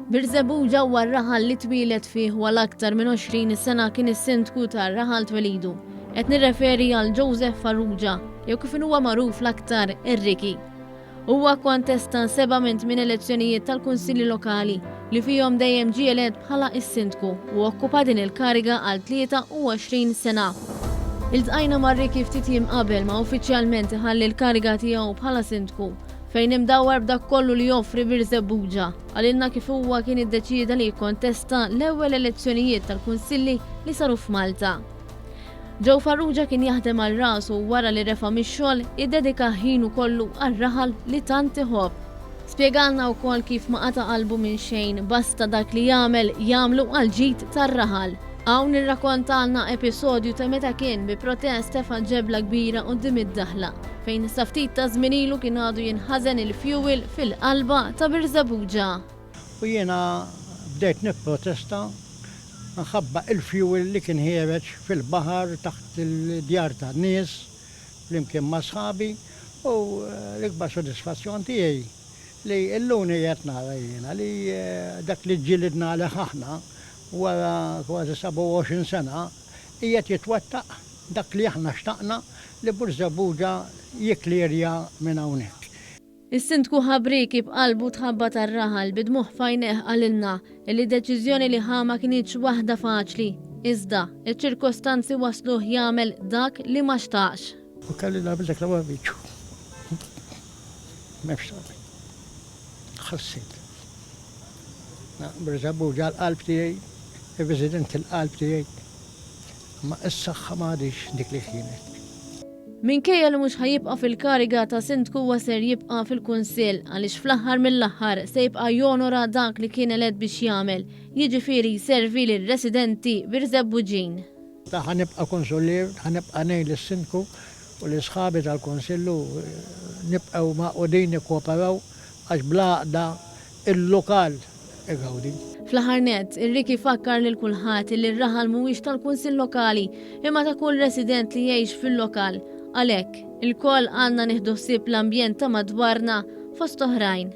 Birżebu ġewwa r-raħal li twielet fih wal aktar minn 20 sena kien is-sindku tar-raħal twelidu. Qed nirreferi għal Joseph Farrugia, jew kif huwa magħruf l-aktar ir-Riki. Huwa kontesta seba' minn tmien elezzjonijiet tal-Kunsilli Lokali, li fihom dejjem ġie elett bħala s-Sindku u okkupa din il-kariga għal 23 sena. Iltqajna ma' Ricky ftit jiem qabel ma uffiċjalment iħalli l-kariga tiegħu bħala Sindku, fejn imdawwar b'dak kollu li joffri Birżebbuġa, qalilna kif huwa kien iddeċieda li jikkontesta l-ewwel elezzjonijiet tal-Kunsilli li saru f'Malta. Joe Farrugia kien jaħdem għal rasu u wara li refa' mix-xogħol, iddedika ħinu kollu għar-raħal li tant iħobb. Spjegalna wkoll kif ma qata' qalbu minn xejn, basta dak li jagħmel, jagħmlu għall-ġid tar-raħal. Hawn irrakkontalna episodju ta' meta kien bi protest tefa' ġebla kbira quddiem id-daħla, fejn sa ftit ta' żmien ilu kien għadu jinħażen il-fjuwil fil-qalba ta' Birżebbuġa. U jiena bdejt nipprotesta minħabba l-fjuwil li kien ħiereġ fil-baħar taħt il-djar tan-nies flimkien ma' sħabi u l-ikbar sodisfazzjon tiegħi li illuni qed nara jiena li dak li ġġilidna għalih aħna wara kważi 27 sena qiegħed jitwettaq dak li aħna xtaqna li Burżebbuġa jikklierja minn hawnhekk. Is-Sindku Ħabrieki b'qalbu tħabba tar-raħal bi dmugħ f'għajnejh qalilna illi d-deċiżjoni li ħa ma kinitx waħda faċli, iżda, iċ-ċirkostanzi wassluh jagħmel dak li ma xtaqx. U kelli nagħmel dak li ma rridx. M'hemmx tagħmel. Ħassejt. Briża Buġa l-qalb tiegħi, ir-residenti l-qalb tiegħi. Imma is-saħħa ma għadhiex dik li kienet. Minkejja li mhux ħa jibqa' fil-kariga ta' Sindku huwa ser jibqa' fil-Kunsill għaliex fl-aħħar mill-aħħar se jibqa' jonora dak li kien elett biex jagħmel, jiġifieri jservi lir-residenti Birżebbuġin. Jien ħa nibqa' Kunsullier, ħa nibqa' ngħin lis-Sindku u lil sħabi tal-Kunsill u nibqgħu magħqudin nikkooperaw għax bl-għaqda il-lokal igawdi. Fl-aħħar nett, ir-RIK ifakkar lil kulħadd li r-raħal mhuwiex tal-Kunsill Lokali imma ta' kull resident li jgħix fil-lokal. Għalhekk, ilkoll għandna nieħdu ħsieb l-ambjent ta' madwarna, fost oħrajn.